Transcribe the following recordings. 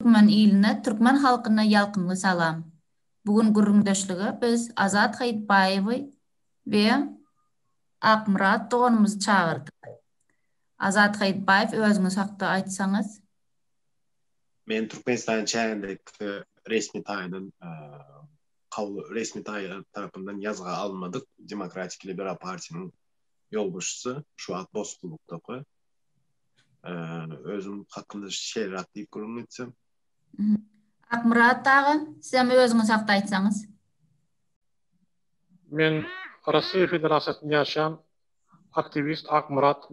Türkmen iline, türkmen halkyna ýalkymly salam. Bu gün gürrüňdeşlige biz Azat Haýytbaýewi we Akmyrat doganymyzy çagyrdyk. Azat Haýytbaýew özüňiz hakda aýtsaňyz? Men Türkmenistanyň çägindäki resmi taýdan kabul resmi taý tarapyndan ýazga alynmadyk Demokratik liberal partiýanyň ýolbaşçysy, şu wagt bosgunlykdaky. özüm hakynda şeýleräk diýip gürrüň etsem. Akmyrat aga, siz hem özüňiz hakda aýtsaňyz. Men Russiýa Federasiýasynda ýaşaýan aktiwist Akmyrat.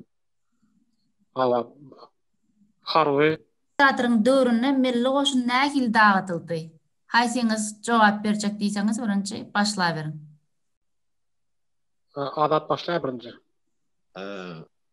Harby. Diktatoryn döwründe milli goşun nähili dagydyldy? Haýsyňyz jogap berjek diýseňiz birinji başlaberiň. Azat başlaýa birinji.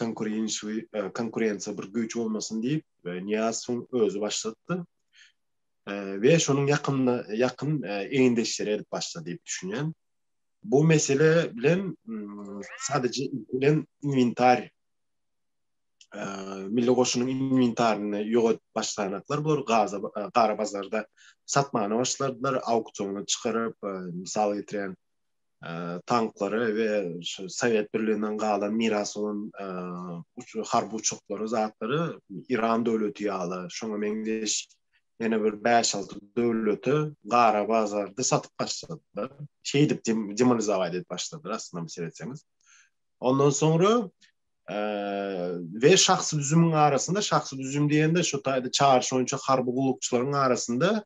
konkurensiýa bir güýç bolmasyn diýip, Nyýazowyň özi başlatdy we şonuň ýakynda ýakyn egindeşleri edip başlady diýip düşünýän. Bu mesele bilen sadece bilen inwentar milli goşunyň inwentaryny ýogat başlanaklar bor, gaza gara bazarda satmana başladylar, auktiona çykaryp, mysal getiren tanklary we şu Sowet Birliginden galan miras bolan harby uçaklary, zatlary Iran döwleti ýaly, şoňa meňzeş ýene bir bäş-alty döwlete gara bazarda satyp başladylar. Şeýdip demonizować edip başladylar aslynda seretseňiz. Ondan soňra we şahsy düzümiň arasynda, şahsy düzüm diýende şu taýda çaryş boýunça harby gullukçylaryň arasynda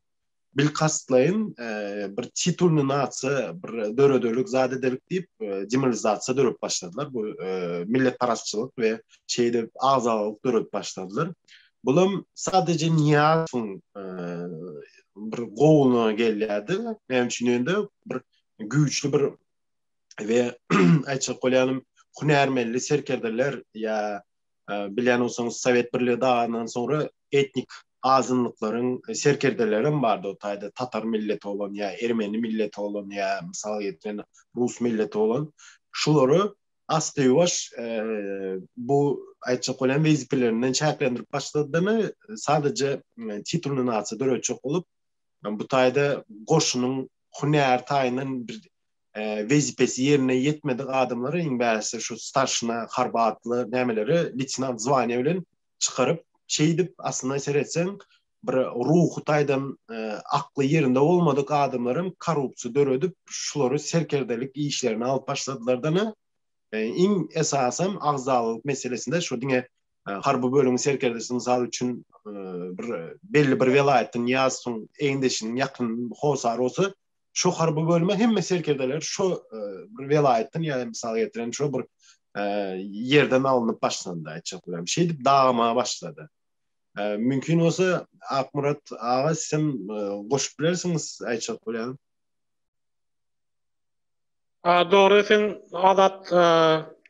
bilkastlaýyn bir titulny narsa, bir dörederlik zat ederlik diýip, demilizasiýa döredip başladylar. Bu milletparazçylyk we şeýdip agzalalyk döredip başladylar. Bulam sadece Niýazowyň bir gowuna gelýärdi. Näme üçin ýöne bir güýçli bir we aýtjak bolýanym hünärmenli serkerdeler ýa bilen olsaňyz Sowet birligi dagandan soňra etnik azynlyklaryň serkerdeleri hem bardy o taýda tatar milleti bolan ýa ermeni milleti bolan ýa mysal getiren rus milleti bolan şulary asly ýuwaş bu aýtjak bolýan wezipelerinden çäklendirip başladyny sadece titulny nasiýa döretjek bolup bu taýda goşunyň hünär taýyndan bir wezipesi ýerine ýetmedik adamlary iň bärisi şu starşina harbatly nämeleri leýtenant zwania bilen çykaryp, şeýdip aslynda seretseň bir ruhy taýdan e, akly ýerinde bolmadyk adamlar hem korrupsiýa döredip, şulary serkerdelik işlerini alyp başladylardan e, iň esasam agzalyk meselesinde şu diňe e, harby bölümiň serkerdesi mysal üçin bir belli bir welaýatdan ýazsyň eýindeşiniň ýakyn hosary bolsa Şo harby bölüme hemme serkerdeler şo e, bir welaýatdan ýa-da mysal getiren şo bir e, ýerden alnyp başlandy aýtjak bolam. Şeýdip dagama başlady. E, mümkin bolsa Akmurat aga sen goşup bilersiňiz aýtjak bolýan. Dogry sen adat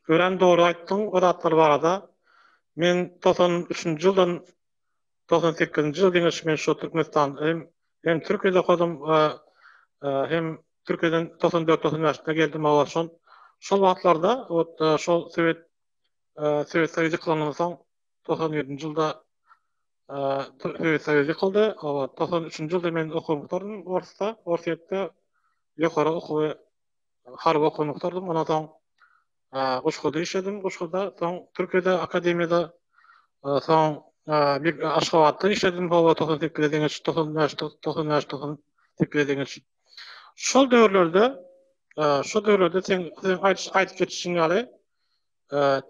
ören dogry aýtdyň o zatlar barada. Men 93-nji ýyldan Togsan sekizinji ýyl diňe men şu Türkmenistanda hem, hem Türkiýede okadym, hem Türkiýeden togsan dört, togsan bäşde geldim, hawa, şol, şol wagtlarda, ot, şol Sowet, Sowet Soýuzy ýykylandan soň, togsan ýedinji ýylda Sowet Soýuzy ýykyldy, hawa, togsan üçünji ýylda men okuwymy gutardym Orsda, Orsýetde ýokary okuwy, harby okuwymy gutardym, ondan soň, Guşgada işledim. Guşgada, soň Türkiýede akademiýada, soň bir Aşgabatda işledim. Howa togsan sekize deňeç, togsan bäş, togsan bäş, togsan sekize deňeç. Şol döwürlerde, şol döwürlerde sen aýdyp geçişiň ýaly,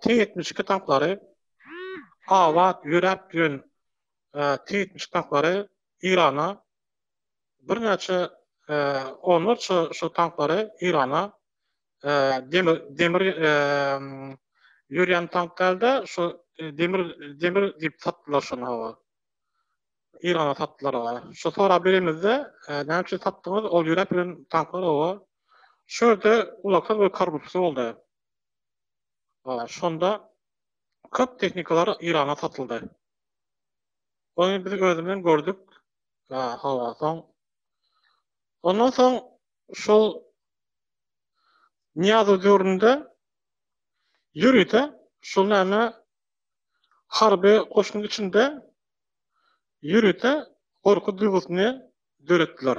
T ýetmiş iki tanklary abat ýöräp ýören T ýetmiş iki tanklary Eýrana birnäçe onlarça şol tanklary Eýrana demir ýörýän tanklarda şu demir demir diýip satdylar şony hawa. Eýrana satdylar hawa. Şu sorap beremizde näme üçin satdyňyz ol ýöräp bilen tanklar hawa. Şu ýerde ulaksyz we korrupsiýa boldy. Şonda köp tehnikalar Eýrana satyldy. Ony biz özümden gördük. Hawa, soň Ondan soň şol Nyýazow döwründe ýörite şol näme harby goşunyň içinde ýörite gorky duýgusyny döretdiler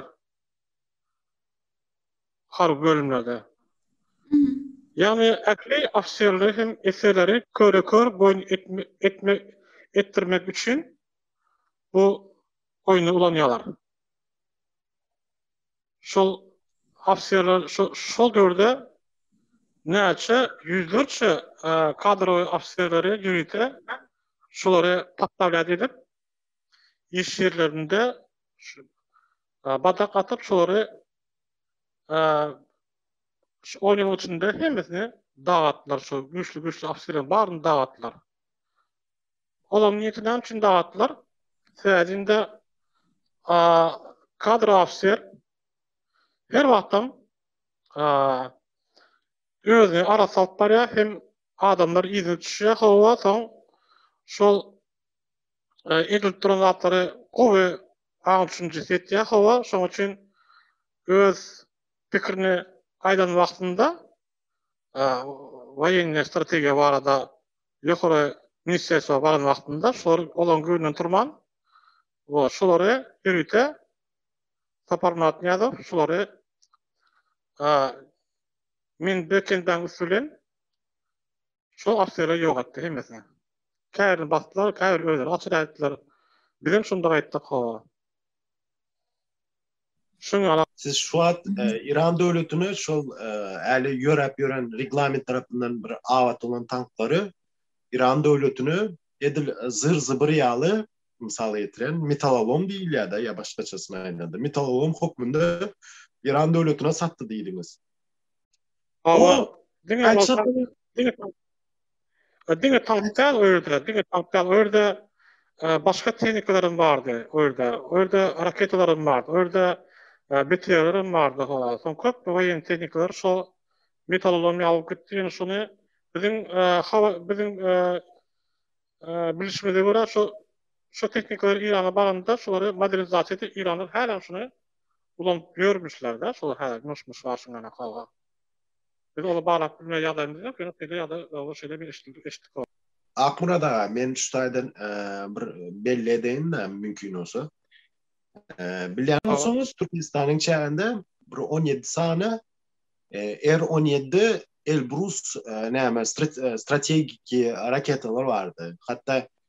harby bölümlerde. Ýagny ähli ofiserleri hem eserleri köre-kör boýun etmek etdirmek üçin bu oýny ulanýarlar. şol ofisýerler şol döwürde näçe ýüzlerçe kadrowy ofisýerleri ýörite şolary podstawiýat edip, iş ýerlerinde badak atyp, şolary şu on ýylyň içinde hemmesini dagatdylar, şol güýçli-güýçli ofisýerleriň baryny dagatdylar. Olam nirsi näme üçin dagatdylar? Sädinde a kadr officer her wagtam a özüne ara salyp barýar hem adamlar yzyna düşýär hawa soň şol e, edilip duran zatlary gowy aň düşünjesi etýär hawa şoň üçin öz pikirini aýdan wagtynda e, woýenniýe strategiýa barada ýokary ministrerstwa baran wagtynda şolar olaryň göwnünden turman, şolary ýörite Saparmyrat Nyýazow şolary men bir kendaň üsti bilen şo ofiseri ýok etdi hemmesini. Käbirini basdylar, käbiri özleri açyp äditdiler. Bizem şonda gaýtdyk, hawa. Şoňa siz şu wagt Iran döwletine şol äli ýöräp ýören reglament tarapyndan bir abat bolan tanklary Iran döwletine edil zyr-zybyr ýaly mysal getiren metalalom diýilýär-de ýa başgaçasyna aýdanda metalalom hokmunda Iran döwletine satdy diýdiňiz. Hawa. Diňe E, diňe taht däl o ýerde, diňe taht däl o ýerde e, başga tehnikalaram bardy o ýerde. O ýerde raketalaram bardy. O ýerde e, BTR-laram bardy. Soň köp woýen tehnikalar şo metalolom ýalyp gitdi. Ýöne şony biziň e, hawa biziň e, bilişimize görä şo şo tehnikalar Irana baranda şolary modernizasiýa edip Iranlar hälem şony ulanyp ýörmüşler-de, şolar hälem myş-myş başyňdan hawa. Biz ony baglap bilmeýän ýagdaýymyz ýok, ýöne şeýle ýagdaý ýa-da şeýle bir eşitdik. Akmyrat aga, men şu taýdan bir belli edeýin-de, mümkin bolsa. Bilýän bolsaňyz, Türkmenistanyň çäginde bir on ýedi sany R on ýedi Elbrus näme strategiki raketalar bardy. Hatda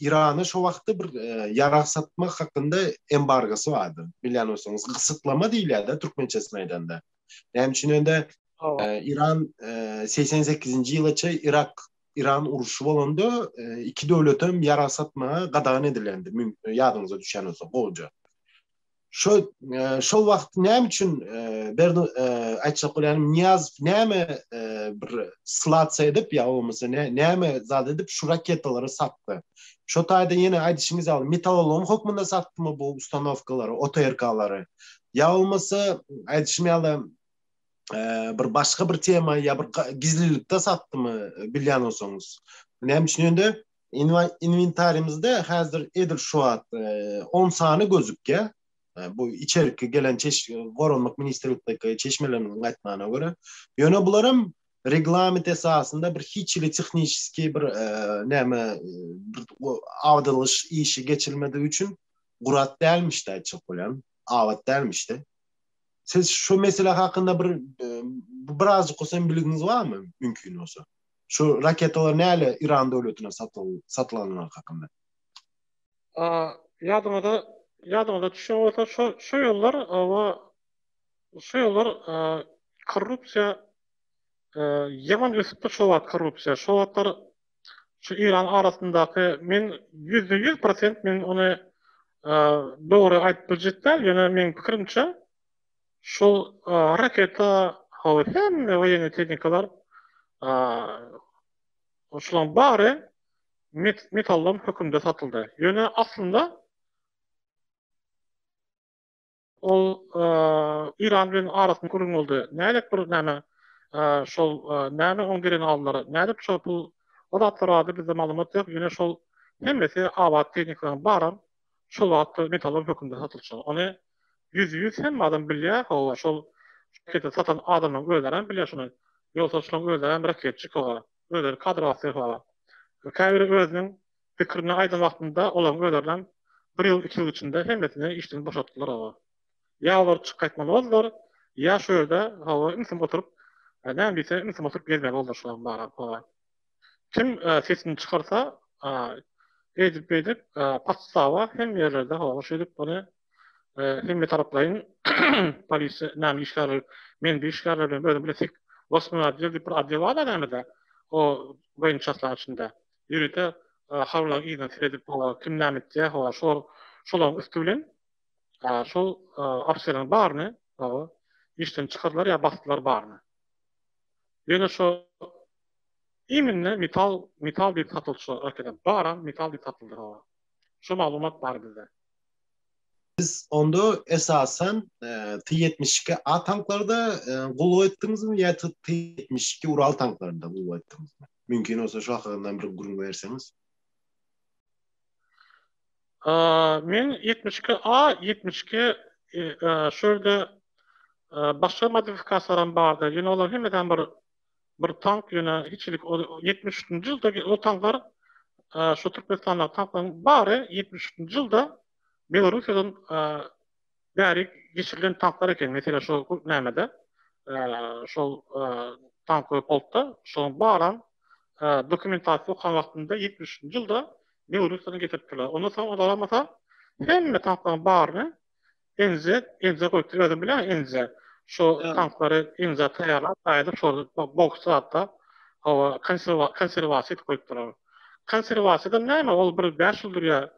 Irana şu wagtda bir e, ýarag satmak hakynda embargosy bardy. Bilýän bolsaňyz, gysytlama diýilýär-de türkmençesini aýdanda. Näme üçin ende e, Iran 88-nji e, ýylaça Irak Iran uruşy bolanda iki döwlet hem ýarag satmaga gadagan edilendi. Ýadyňyza düşýän bolsa, gowja. Şo şo wagt näme üçin berdi aýtjak bolýan Niýaz näme bir slats edip ýa bolmasa näme zat edip şu raketalary satdy. Şo taýda ýene aýdyşyňyz ýaly metallolom hökmünde satdymy bu ustanowkalary, OTRK-lary. Ýa bolmasa aýdyşym ýaly bir başga bir tema ýa bir gizlilikde satdymy bilýän bolsaňyz. Näme üçin ýöne Inwentarimizde häzir edil şu wagt on sany gözükýär. Bu içerki gelen Goranmak ministrlikdäki çeşmeleriň aýtmagyna görä. Ýöne bularam reglament esasynda bir hiç hili tehniski bir näme awdylgyş işi geçilmedigi üçin gurat dälmişdi aýtjak bolýan. Abat dälmişdi. Siz şu mesele hakynda bir birazjyk bolsa hem bilgiňiz barmy? Mümkin bolsa. Şu raketalar näle Iran döwletine satylanyny hakynda? Ýadyňyza ýadyňyza düşýän bolsa şu şu ýyllar oba şu ýyllar korrupsiýa ýaman ösüpdir şo wagt korrupsiýa şo wagtlar şu Iran arasyndaky men ýüzde ýüz prosent men ony dogry aýdyp biljek däl ýöne meň pikirimçe Şol raketa hawa hemme woýenniý tehnikalar şulaň bary metallam hökümde satyldy. Ýöne aslynda ol Iran bilen arasynda gürrüň boldy. Nädip bir näme şol näme oň geregini aldylar. Nädip şol pul o zatlar barada bizde maglumat ýok. Ýöne şol hemmesi abat tehnikalar baram şol wagtda metallam hökümde satylşy. Ony Ýüz ýüz hemme adam bilýär hawa şol raketa satan adamlaň özlerem bilýär şuny ýolsaçlaň özlerem raketçik hawa özleri kadr basýar hawa käbiri özüniň pikirini aýdan wagtynda olaň özlerinem bir ýyl iki ýyl içinde hemmesini işden boşatdylar hawa ýa olar çyk gaýtmaly boldular ýa şu ýerde hawa ümsüm oturyp näme diýse ümsüm oturyp gezmeli boldular şular baram hawa. Kim sesini çykarsa, eýdip-beýdip, patsaba hem ýerlerde howa şeýdip, ony hemmetaraplaýyn polisiýa näme işgärleri, men bir işgärler bilen özüm bilen sek Wosmýoý otdel diýip bir otdel bar-da nämede, o boýun çaslaryň içinde. Ýörite habarlaryň yzyna seredip, howa kim näme etýär, howa şol şolaryň üsti bilen şol ofiserleriň baryny, howa, işden çykardylar ýa basdylar baryny. Ýöne şo Iýminde metal metal diýip satylçylar yrk edip baram metal diýip satyldy hawa. Şo maglumat bar bizde. Siz onda esasan T ýetmiş iki A tanklarda gullugy etdiňizmi ýa T ýetmiş iki Ural tanklarynda gullugy etdiňizmi? Mümkin bolsa şo hakynda bir gürrüň berseňiz. Men ýetmiş iki A ýetmiş iki şo ýerde başga modifikasiýalaram bardy ýöne olar hemedem bir bir tank ýöne hiçlik ol ýetmiş üçünji ýylda ol tanklar şu türkmenistandaky tanklaryň bary ýetmiş üçünji ýylda belorussiýadan bäri geçirilen tanklar eken meselem şol nämede şol tankoý polkda şoň baram dokumentasiýa okan wagtynda ýetmiş üçünji ýylda belorussiýadan getiripdirler ondan soň olar bolmasa hemme tanklaryň baryny Inze, inze goý, özüň bileň inze. Şu tanklary inze taýýarlap, gaýdyp şol boks zatda hawa, konserwasiýa goýup durar. Konserwasiýa-da näme, ol bir bäş ýyl durýar,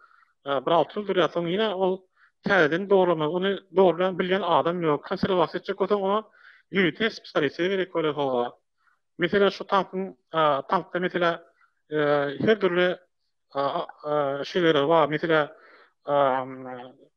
bir alty ýyl durýar, soň ýene ol täzeden dogrulanmaly. Ony dogrulan, bilýän adam ýok. Konserwasiýa etjek bolsaň, oňa ýörite spesialiste gerek bolar, hawa. Meselem, şu tankyň, tankda, meselem, her dürli şeýleler bar, meselem,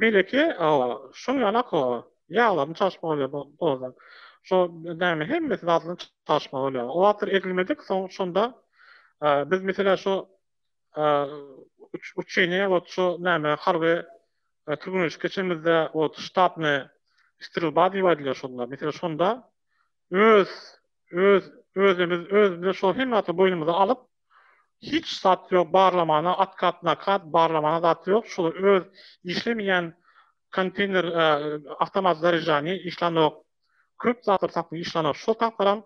Beýleki şol ýalak ýaglaryny çalyşmak bolýar bu dozda. Şo näme hemmesi zadyny çalyşmak bolýar. O wagtlar egilmedik, soň şonda biz meselä şo uçeniýe wagt şo näme harby türgenleşik geçenimizde wagt ştabny strelba diýip aýdylýar şonda. Meselä şonda öz öz özümiz özümize şo hemme zady boýnumyza alyp Hiç zat ýok barlamana otkat nakad barlamana zat ýok şul öz işlemeýän konteýner awtomat zareždanie işlanok köp zatlar tapyň işlanok şol tapyram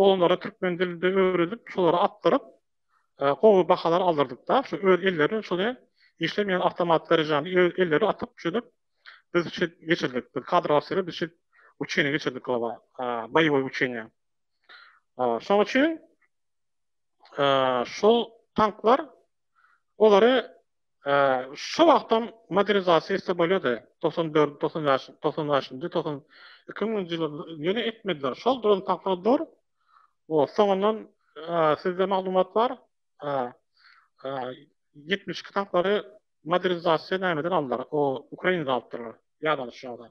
oglanlara türkmen dilinde öwredip şolara atdyryp gowy bahalar aldyrdykda şu öz elleri şuly işlemeýän awtomat zareždanie öz elleri atyp şuýdip biz şit geçirdik biz kadr ofiseri biz şit uçeniýa geçirdik boýowy uçeniýa. Şonuň üçin şol tanklar olary şu wagtam modernizasiýa etse bolýardy. 94, 95, 95-nji, 2000-nji ýyllarda ýöne etmediler. Şol duran tanklar dur. O soňundan sizde maglumat bar. 72 tanklary modernizasiýa nämeden aldylar? O Ukrainada alypdyrlar. Ýadanyşýarlar.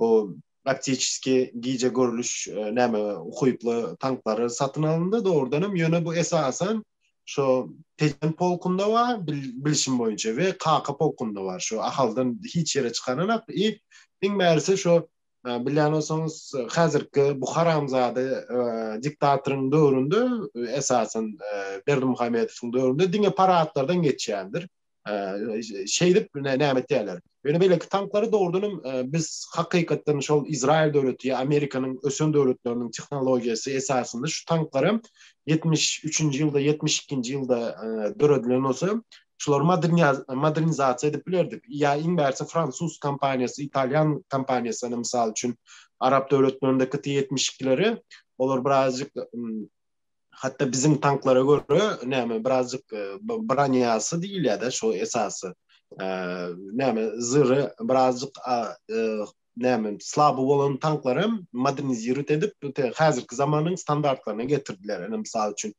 bu praktiki gije görlüş näme ukyply tanklary satyn alyndy dogrudan hem ýöne bu esasan şo tejen polkunda wa bilişim boýunça we kaka polkunda bar şo ahaldan hiç ýere çykaranak i iň bärisi şo bilýän bolsaňyz häzirki bu haramzada diktatoryň döwründe esasan berdimuhamedowyň döwründe diňe paradlardan geçýändir şeýdip näme etýärler. Ýöne beýleki tanklary dogrudan hem e, biz hakykatdan şol Izrail döwleti ýa Amerikanyň ösen döwletleriniň tehnologiýasy esasynda şu tanklar hem 73-nji ýylda, 72-nji ýylda e, döredilen bolsa, şulary modernizasiýa edip bilerdik. Ýa iň bärsi fransuz kompaniýasy, italýan kompaniýasyny mysal üçin arap döwletlerindäki T-72-leri olar birazjyk Hatda biziň tanklara görä, näme, birazjyk e, broniýasy diýilýär-de şu esasy. E, näme, zyry birazjyk e, näme, slaby bolan tanklar hem modernizirat edip, häzirki zamanyň standartlaryna getirdiler. Ene, mysal üçin,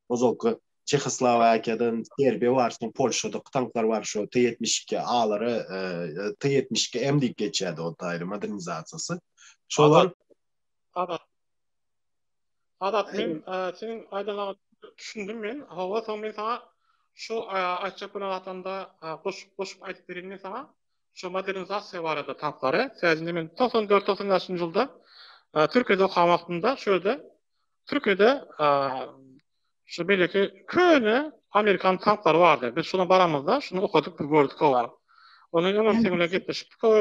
ozalky Çehoslowakiýadan Serbiýa barşyna Polşada tanklar bar şu T-72 A-lara e, T-72 M diýip geçýärdi o taýly modernizasiýasy. Şolar Abat. Azat men seniň aýdanyňa düşündim men hawa soň men saňa şu aýtjak bolan zatymda goşup goşup aýdyp bereýin men saňa şu modernizasiýa barada taplary sähedinde men togsan dört togsan bäşinji ýylda türkiýede okan wagtymda şu ýerde türkiýede şu beýleki köne amerikan tanklary bardy biz şuna baramyzda şuny okadyk bir gördük hawa ony öňem seň bilen gepleşipdik hawa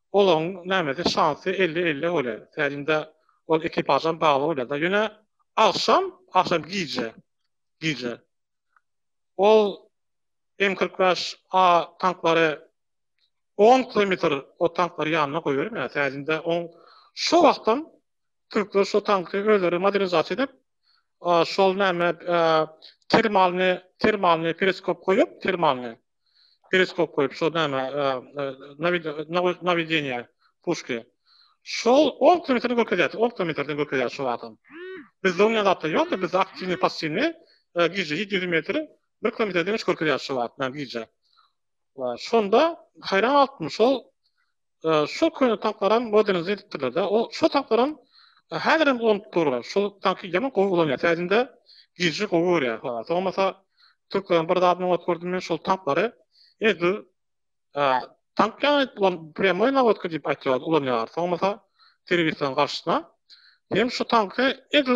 Olaryň nämesi şansy elli-elli bolýa. Tälimde ol ekipažam bagly bolýa-da. Ýöne agşam, agşam gije, gije ol M kyrk bäş A tanklary on kilometr o tanklary ýanyna goýbermeýär. Tälimde on şo wagtam türkler şo tanky özleri modernizasiýa edip, şol näme termalny, termalny periskop goýup, termalny. Periskop goýup, şol näme, nawideniýa puşki. Şol ol kilometrden görkezýär, ol kilometrden görkezýär şol adam. Bizde oňa zatlar ýok-da, bizde aktiwni, passiwni gije ýedi ýüz metr bir kilometrden hiç görkezýär şol wagt, näme gije. Şonda haýran galypdym, şol Şo köne tapylaram modernizm edipdirlerde o şo tapylaram häzirem dolanyp dur şo tanky ýaman gowy ulanýar täzinde girji gowy görýär halas bolmasa türkleriň bir zadyny oňat gördüm men şol tanklary edi tank ýaly ulan prýamoý nawodka diýip aýtýar ulanýar bolmasa terroristlaryň garşysyna hem şo tanky edi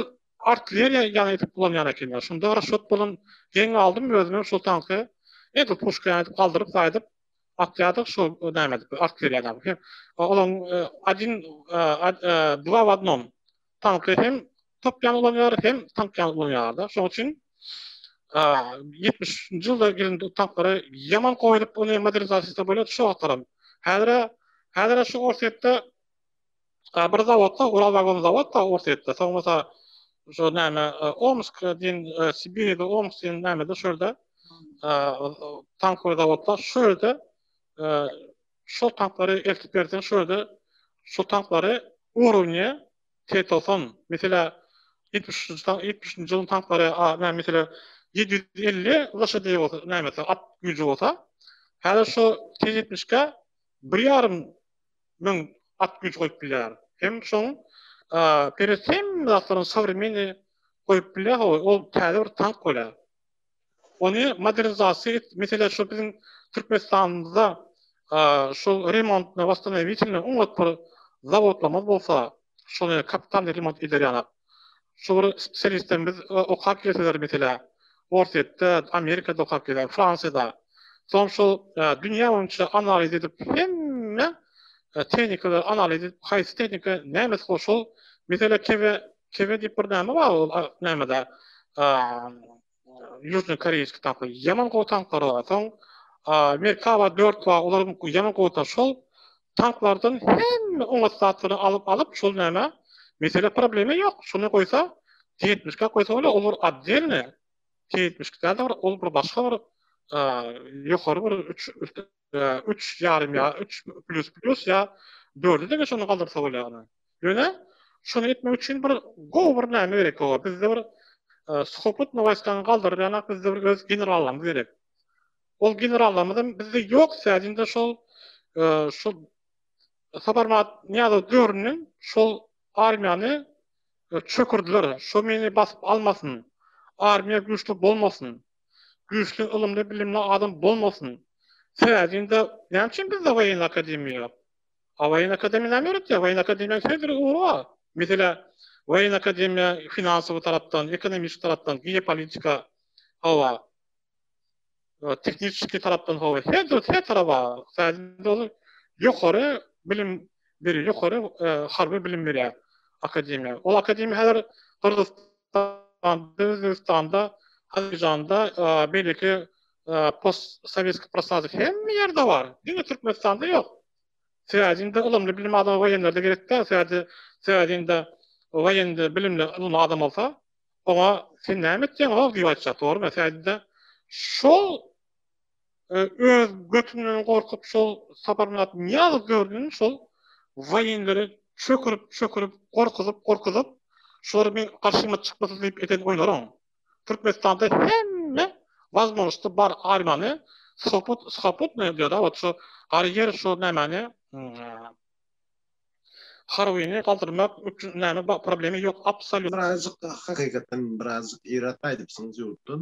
artilleriýa ýaly edip ulanýar ekenler şonda raşot bolan geň aldym özümem şo tanky edi puşka ýaly edip galdyryp saýdyp Akýada şol näme diýip artilleriýa näme diýip. Olaň adin dwa w adnom. Tankly hem top ýaly ulanýar, hem tank ýaly ulanýarda. Şonuň üçin 70-nji ýylda gelen tanklary ýaman goýulyp, ony modernizasiýa bolýar, şu wagtlaram. Häzir-ä, häzir-ä şu Orsýetde Ka bir zawodda Uralwagon zawod bar Orsýetde soň bolsa şu näme Omsk diýen Sibirde Omsk diýen nämede şu ýerde tankowy zawodda şu ýerde şol tanklary eltip berseň şu ýerde şol tanklary urovne Tetoson meselä ýetmiş üçünji tank ýetmiş üçünji ýylyň tanklary näme meselä ýedi ýüz elli loşadýe bolsa nämesi at güýji bolsa häzir şu T ýetmişke bir ýarym müň at güýji goýup bilýär. Hem şoň peres hemme zatlaryň sowremenny goýup bilýär ho ol täze bir tank bolýar. Ony modernizasiýa et meselä şu biziň Türkmenistanymyzda şol remontna wastanawitelne oňat bir zawodlamaz bolsa şony kapitalny remont ederýalar. Şu bir serwisden biz okap gelseler meselä, Orsýetde, Amerikada okap gelýär, Fransiýada. Soň şol dünýä boýunça analiz edip hemme tehnikalary analiz edip haýsy tehnika nämesi bor şol mesele kebe kebe diýip bir näme bar ol nämede Ýužny Koreýski tapy ýaman gowy tanklar bar. Soň Merkaba 4 bar, olar ýaman gowy da şol tanklardan hemme oňat zatlary alyp alyp şol näme? Mesele problema ýok. Şony goýsa T-ýetmişka goýsa bolar, ol bir otdelny T-ýetmişka däl-de bir ol bir başga bir ýokary bir üç Üç ýarym ýa üç plýus plýus ýa dörde deňe şony galdyrsa bolýar. Ýöne şony etmek üçin bir gowy bir näme gerek olar. Bizde bir suhoputny waýskany galdyrýanak bizde bir öz generallarymyz gerek. Ol generallarymyzam bizde ýok sädinde şol şol Saparmat Niýazow döwründen şol armiýany çökürdiler. Şo meni basyp almasyn. Armiýa güýçli bolmasyn. Güýçli ylymly bilimli adam bolmasyn. Sähedinde näme üçin bizde waýenn akademiýa ýok? A waýenn akademiýa näme öwretýär? Waýenn akademiýanyň söz bir ugry bar. Meselä waýenn akademiýa finansowy tarapdan, ekonomiki tarapdan, geopolitika hawa. Tehniki tarapdan hawa. Her dür her taraba sähedinde ol ýokary bilim biri ýokary harby bilim berýär akademiýa. Ol akademiýa häzir gyrgyz Türkmenistanda, Özbegistanda, Azerbaýjanda, beýleki post-sowetskiý prostoralarda hemme ýerde bar. Diňe Türkmenistanda ýok. Sebäbi indi ylymly bilim adam woýenler-de gerek däl. Sebäbi sebäbi indi woýenli bilimli ylymly adam bolsa, oňa sen näme etýäň-ow diýip aýtjak, dogrumy? Sebäbi indi şol Öz götünden gorkup şol Saparmyrat Nyýazow döwründen şol waýenleri çökürip çökürip gorkuzyp gorkuzyp şular meň garşyma çykmasyn diýip eden oýlaryň Türkmenistanda hemme wazmožnosti bar arimani soput skoputny diýada wot şu gary ýer şu nämani Harwini galdyrmak üçin näme problemi ýok absoliut. Birazjyk hakykatdan birazjyk yrat aýdypsyňyz ýurtdan.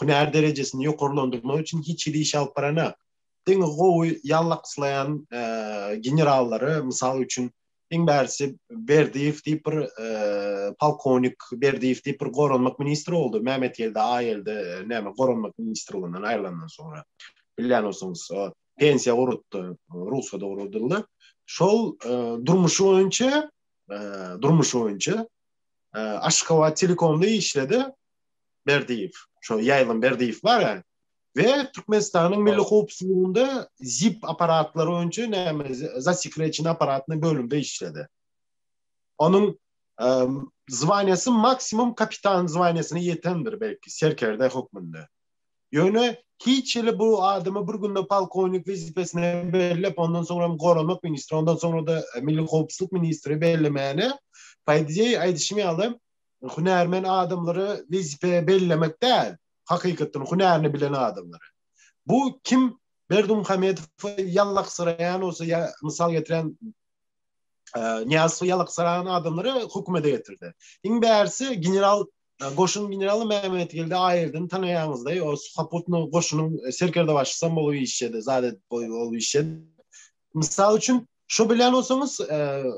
hünär derejesini ýokarlandyrmak üçin hiç hili iş alyp baranok. Diňe gowy ýallakyslaýan generallary, mysal üçin, iň bärisi Berdiýew diýip bir polkownik Berdiýew diýip bir goranmak ministri boldy. Mämmetgeldi Aýelde näme goranmak ministrliginden aýrylandan soňra. Bilýän bolsaňyz, pensiýa gurutdy, rugsada gurudyldy. Şol durmuşy boýunça, durmuşy boýunça Aşgabat telekomda işledi. Berdiýew, şo Ýaýlym Berdiýew bar-a we Türkmenistanyň Milli howpsuzlygynda ZIP apparatlary boýunça näme zasekrejeni apparatny bölümde işledi. Onuň zwaniýasy maksimum kapitan zwaniýasyna ýetendir belki serkerde hökmünde. Ýöne hiç hili bu adamy bir günde polkownik wezipesine bellep, ondan soňram goranmak ministri, ondan soňra-da milli howpsuzlyk ministri bellemäne, paidei aýdyşym ýaly, hünärmen adamlary wezipe bellemek däl, hakykatdan hünärini bilen adamlary. Bu kim Berdimuhamedowy ýalaksyraýan bolsa ýa mysal getiren Niýazowy ýalaksyraýan adamlary hökümete getirdi. Iň bärisi general goşun generaly Mehmetgeldi Aýerden tanaýaňyzda, o Suhaputnyň goşunyň serkerde başysam bolup işledi, zade boýy bolup işledi. Mysal üçin, Şo bilýän bolsaňyz,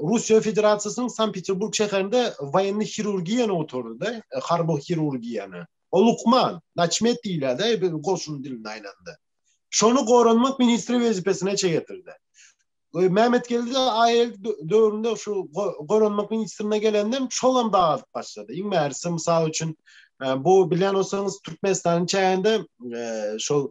Russiýa Federasiýasynyň Sankt-Peterburg şäherinde woýenni hirurgiýany oturdy-da, harby hirurgiýany. O lukman, naçmet diýilýär-de biziň goşun dilinde aýlanda. Şony goranmak ministri wezipesine çegetirdi. Mämmetgeldi AL döwründe şu goranmak ministrine gelenden şolam dagazyp başlady. Iň mährisi, mysal üçin, bu bilýän bolsaňyz, Türkmenistanyň çäginde şol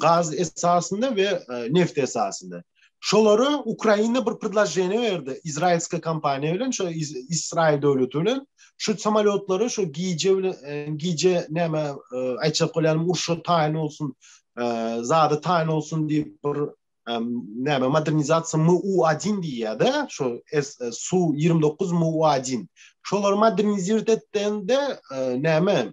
gaz esasynda we neft esasynda. Şolara Ukraina bir predloženiýe berdi, izrailska kompaniýa bilen, şo Israil döwleti bilen şu samolýotlary şu gije bilen e, gije näme e, aýtjak bolýan urşa taýyn bolsun, e, zada taýyn bolsun diýip bir näme modernizasiýa MU1 diýýär-de, şo Su-29 MU1. Şolary modernizirtende näme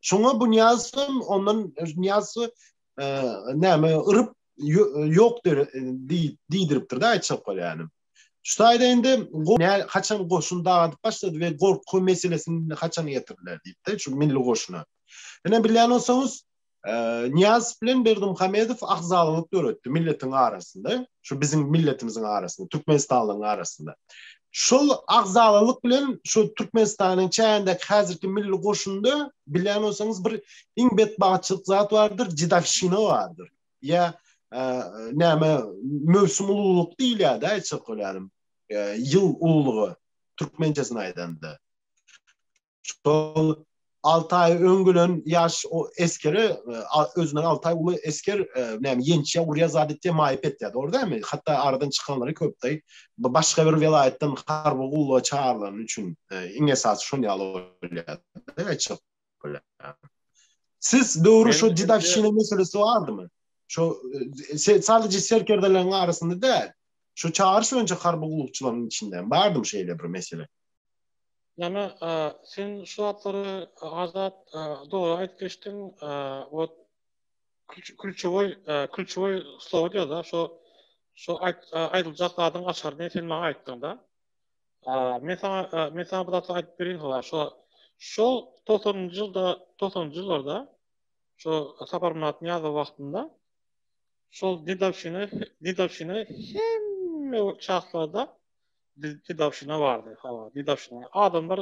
Şoňa bu Niýazow ondan Niýazow näme yryp ýok diýdiripdir-de aýtjak bolýanym. Şu taýda indi haçan goşun dagyp başlady we gorky meselesini haçan getirdiler diýip-de şu milli goşuna. Ine bilýän bolsaňyz, Niýazow bilen Berdimuhamedow agzalalyk döretdi milletiň arasynda. Şu biziň milletimiziň arasynda, türkmenistanlyň arasynda. Şol agzalalyk bilen şu Türkmenistanyň çägindäki häzirki milli goşunda bilýän bolsaňyz bir iň betbagtçylyk zat bardyr, jidawşina bardyr. Ýa e, näme möwsüm ululyk diýilýär-de aýtsak bolýanym. E, ýyl ululygy türkmençesini aýdanda. şol alty aý öň gelen ýaş o eskere özünden alty aý uly esker näme ýençe urýa zat etýä maýyp etýä dogry dämi hatda aradan çykanlary köpdi başga bir welaýatdan harby gulluga çagyrylan üçin iň esasy şon ýaly bolýar siz döwri şu didakşina meselesi bardymy şu sadece serkerdeleriň arasynda däl şu çagyryş boýunça harby gullukçylaryň içinde bardymy şeýle bir mesele Jana sen şu zatlary Azat dogry aýdyp geçdiň ot külçewoý külçewoý slowa diýada şu şu aýdyljak zadyň açaryny sen maňa aýtdyňda men saňa men saňa bir zatlary aýdyp berin howa şu şu togsanynjy ýylda togsanynjy ýyllarda şu saparmyrat niýazow wagtynda şol dedowşina dedowşina hemme çaklarda Biz Didawşyna bardy, hawa, Didawşyna. Adamlar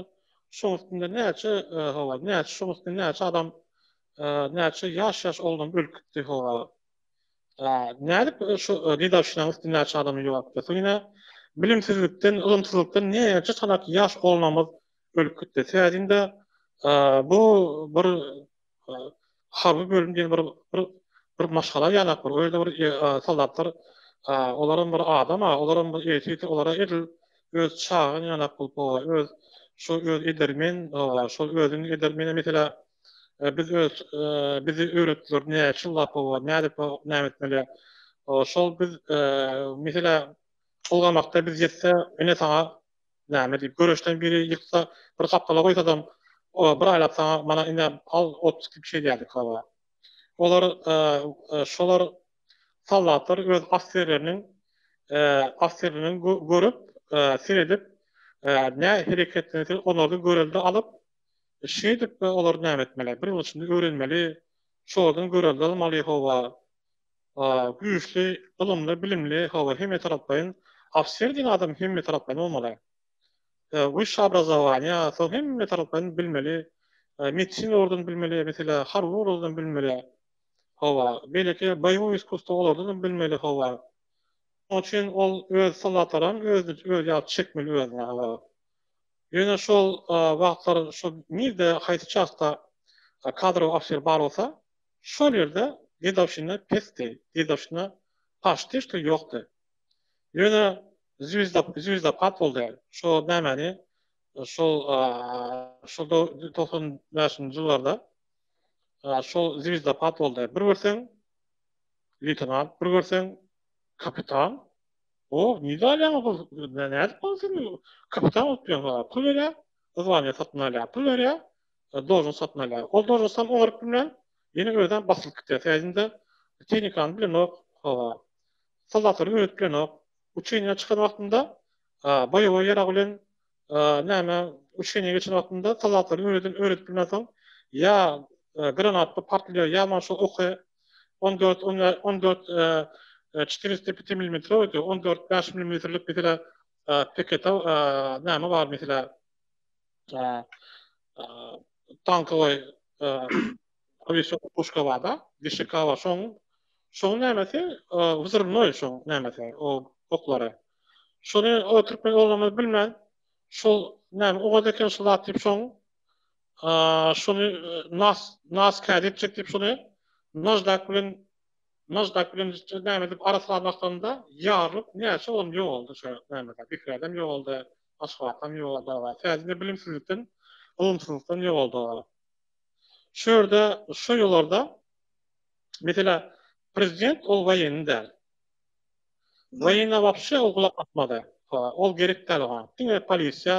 şoň üstünde näçe, hawa, näçe şoň üstünde näçe adam, näçe ýaş-ýaş oglan ölüp gitdi, hawa. Nädip şu Didawşynyň üstünde näçe adam ýokdy? Soň ýene bilimsizlikden, ylymsyzlykdan näçe çanak ýaş oglanymyz ölüp gitdi. Täzinde bu bir harby bölüm diýen bir bir maşgala ýalak bir öýde bir soldatlar olaram bir adam a olaram bir erkek olara edil öz çagan ýalak bolup öz şu öz edermen şol özüň edermeni meselä biz öz bizi öwretdiler näçe ýyllap bolup nädip näme etmeli şol biz meselä ulgamakda biz ýetse ine saňa Näme diýip, göreşden biri ýyksa, bir gapdala goýsadam, bir aýlap saňa mana ine al ot diýip bir şey diýerdik baba. Olar şolar soldatlar öz ofserleriniň ofserleriniň görüp, seredip nä hereketlense olardan görelde alyp, şeýdip olar näme etmeli, bir ýyl içinde öwrenmeli, şolardan görelde almaly howa. güýçli, ylymly, bilimli, hawa, hemmetaraplaýyn, ofiser diýen adam hemmetaraplaýyn bolmaly. Wysşa obrazowaniýa, soň hemmetaraplaýyn bilmeli, medisina ugurdan bilmeli, meselä, harby ugurdan bilmeli, hawa, beýleki boýowy iskusstwo olardanam bilmeli, hawa. Şonuň üçin ol öz soldatlaram özüni özi ýaly çekmeli özüne, hawa. Ýöne şol wagtlar, şol nirde, haýsy çastda kadrowy ofiser bar bolsa, Şol ýerde dedowşina pesdi, dedowşina paştyşdy ýokdy. Ýöne zwizda zwizdapad boldy. Şo nämäni şol şol togsan bäşinji ýyllarda şol zwizdapad boldy. Bir görseň leýtenant, bir görseň kapitan. O, nirde alýaňyz bul, nädip bolsun kapitan bolup ýör, pul berýär, zwaniýa satyn alýar, pul berýär, Dojyny satyn alýar. Ol dojy sam oňaryp bilmän, ýene özem basylyp gidýär. Täzinde tehnikany bilenok, hawa, soldatlary öwredip bilenok. Uçeniýa çykan wagtynda boýowa ýarag bilen näme uçeniýa geçen wagtynda soldatlary öwreden öwredip bilmänsoň ýa granatda partlaýar, ýa maňa şol oky on dört on dört çetyrysta piti milimetrowdy, on dört bäş milimetrlik meselä peketa näme bar meselä. tankowy awiasiýa puşka barda, dişikawa şoň şoň nämesi wzrnoý şoň nämesi o oklary. Şony o türkmen oglany bilmän şol näme ogaz eken şol zat diýip şoň şony nas nas kädi etjek diýip şony najdak bilen najdak bilen näme edip arasalamakdan da ýarylyp näçe olam ýogaldy şo nämede bikreden ýogaldy. Aşgabatdan ýogaldygy bar. Täjini bilimsizlikden, ylymsyzlykdan ýogaldygy bar. Şu ýerde, şu ýyllarda, meselä, prezident ol woýenni däl. Woýene wapşe ol gulak asmady. Hawa, ol gerek däl oňa. Diňe polisiýa,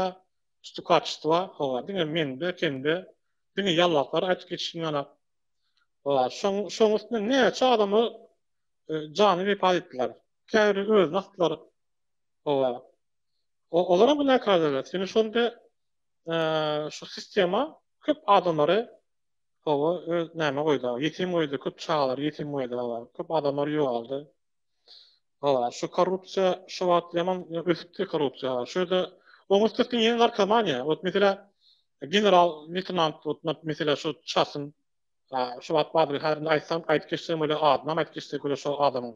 stukaçystowa, hawa, diňe mende, sende, diňe ýallaklary aýdyp geçişini ýanap. Hawa, şoň, şoň üstüne näçe adamlar jany wepat etdiler. Käbiri özüni asdylar. Oba. O olaram günäkärdirler. Çünki şonda şu sistema köp adamlary oba öz näme goýdy? Ýetim goýdy, köp çagalary ýetim goýdy. Köp adamlar ýogaldy. Oba. Şu korrupsiýa şu wagt ýaman ösüpdi korrupsiýa. Şu ýerde oň üstesine ýene narkomaniýa. Ot meselä general leýtenant otnat meselä şu çasyn şu wagt bardyr. Häzirem aýtsam aýdyp geçsem welin adyny aýdyp geçsek welin şu adamyň.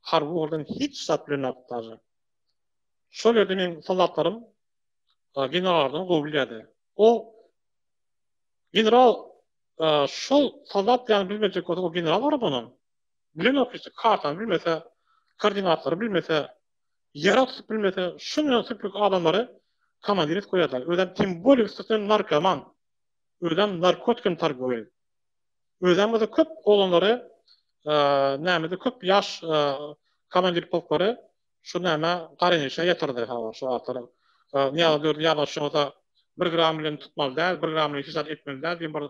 harby organ hiç zat bilen agtarjak. Şol ýerde meň soldatlarym generallardan gowy bilýärdi. O general şol soldat ýany bilmejek bolsa, o general barada onam bilenok hiç kartany bilmese, koordinatlary bilmese, ýere tutup bilmese, şundan süplük adamlary komandir edip goýarlar. Özem tim bolýa üstesine narkoman. Özem narkotikim targowy. Özämizde köp oglanlary nämede köp ýaş komandir polklary şu näme garynýaşa ýatyrdy ha şu wagtlar. Nyýaza dördi ýadgyşyňyza bir gram bilen tutmaly däl, bir gram bilen hiç zat etmeli däl diýen bir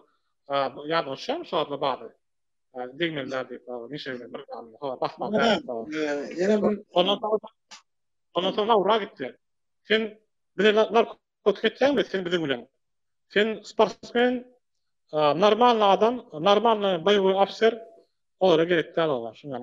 ýadgyşam şu wagtlar bardy. Degmeli däl diýip nişe bilen bir gram ha basmaly däl. Ondan soň ondan soň Laura gitdi. Sen bize narkoz Gotlib etýäňmi sen biziň bilen? Sen sportsmen, normalny adam, normalny boýowy ofser olara gerek däl olar. Şuňa